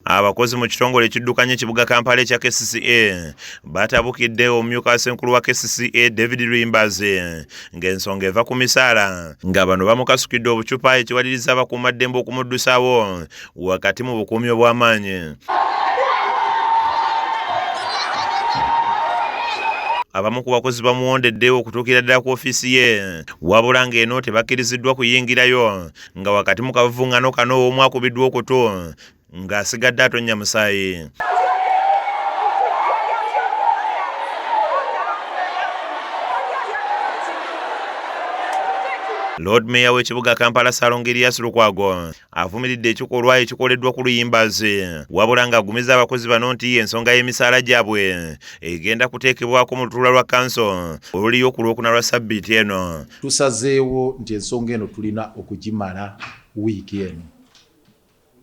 Abakozi mu kitongole ekiddukanya ekibuga Kampala ekya KCCA batabukidde omumyuka senkulu wa KCCA David Lwimbazi ng'ensonga eva ku misaala nga bano bamukasukidde obucupa ekiwaliriza abakuumaddembe okumuddusaawo wakati mu bukuumi obw'amaanyi. abamu ku bakozi bamuwondedde okutuukira ddala ku ofiisi ye wabula ng'eno tebakkiriziddwa kuyingirayo nga wakati mu kavuvungano kano omu akubiddwa okutu ng'asigadde atonnya musaayi lord mayor w'ekibuga kampala salonga elias lukwago avumiridde ekikolwa ekikoleddwa ku luyimbazi wabula ng'agumiza abakozi bano nti ensonga y'emisaala gyabwe egenda kuteekebwako mu lutuula lwa kanso oluliyo ku lwokuna lwa sabbiiti eno tusazeewo nti ensonga eno tulina okugimala wiiki eno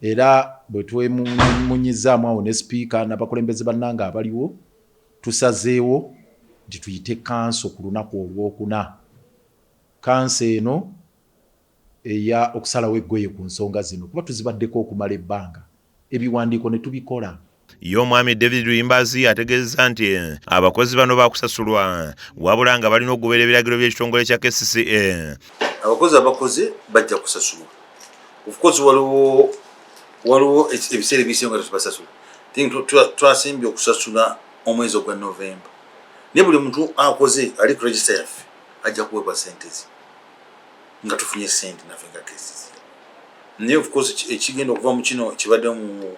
Era bwe twemunyimunyizzaamu awo ne Sipiika n'abakulembeze bannange abaliwo, tusazeewo nti tuyite kkanso ku lunaku Olwokuna, kkanso eno eya okusalawo eggoye ku nsonga zino kuba tuzibaddeko okumala ebbanga, ebiwandiiko ne tubikola. ye omwami david luyimbazi ategeezezza nti eh, abakozi bano bakusasulwa wabula nga balina okugoberera ebiragiro by'ekitongole kya kcca eh. abakozi abakoze bajja kusasulwa ofcourse waliwo waliwo ebiseera ebisinga nga tetubasasula twasimbye okusasula omwezi ogwa novemba naye buli muntu akoze ali ku regista yaffe ajja kuweebwa sente ze nga tufunye sente nafe nga kcca naye ofcourse ekigenda okuva mu kino kibadde mu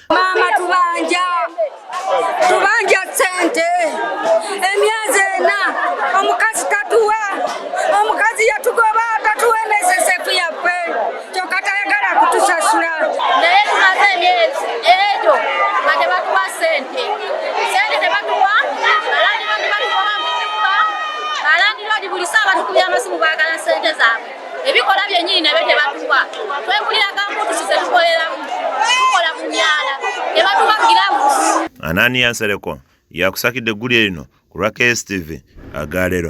Maama tubanja tubanja sente emyezi ena omukazi tatuwa omukazi yatugoba tatuwa enesesefu yaffe kyoka tayagala kutusasula naye tumaze emyezi egyo nga tebatuwa sente sente tebatuwa alandirodi batugoba mukuba alandirodi buli saa batukubya amasimu bagala sente zaabwe ebikola byennyini nabyo tebatuwa twegulira gambutusi zetukoleramu tukola mu myala tebatuwa giravusi ananiya nsereko yakusakidde eggulire lino ku lwa kstv agaleero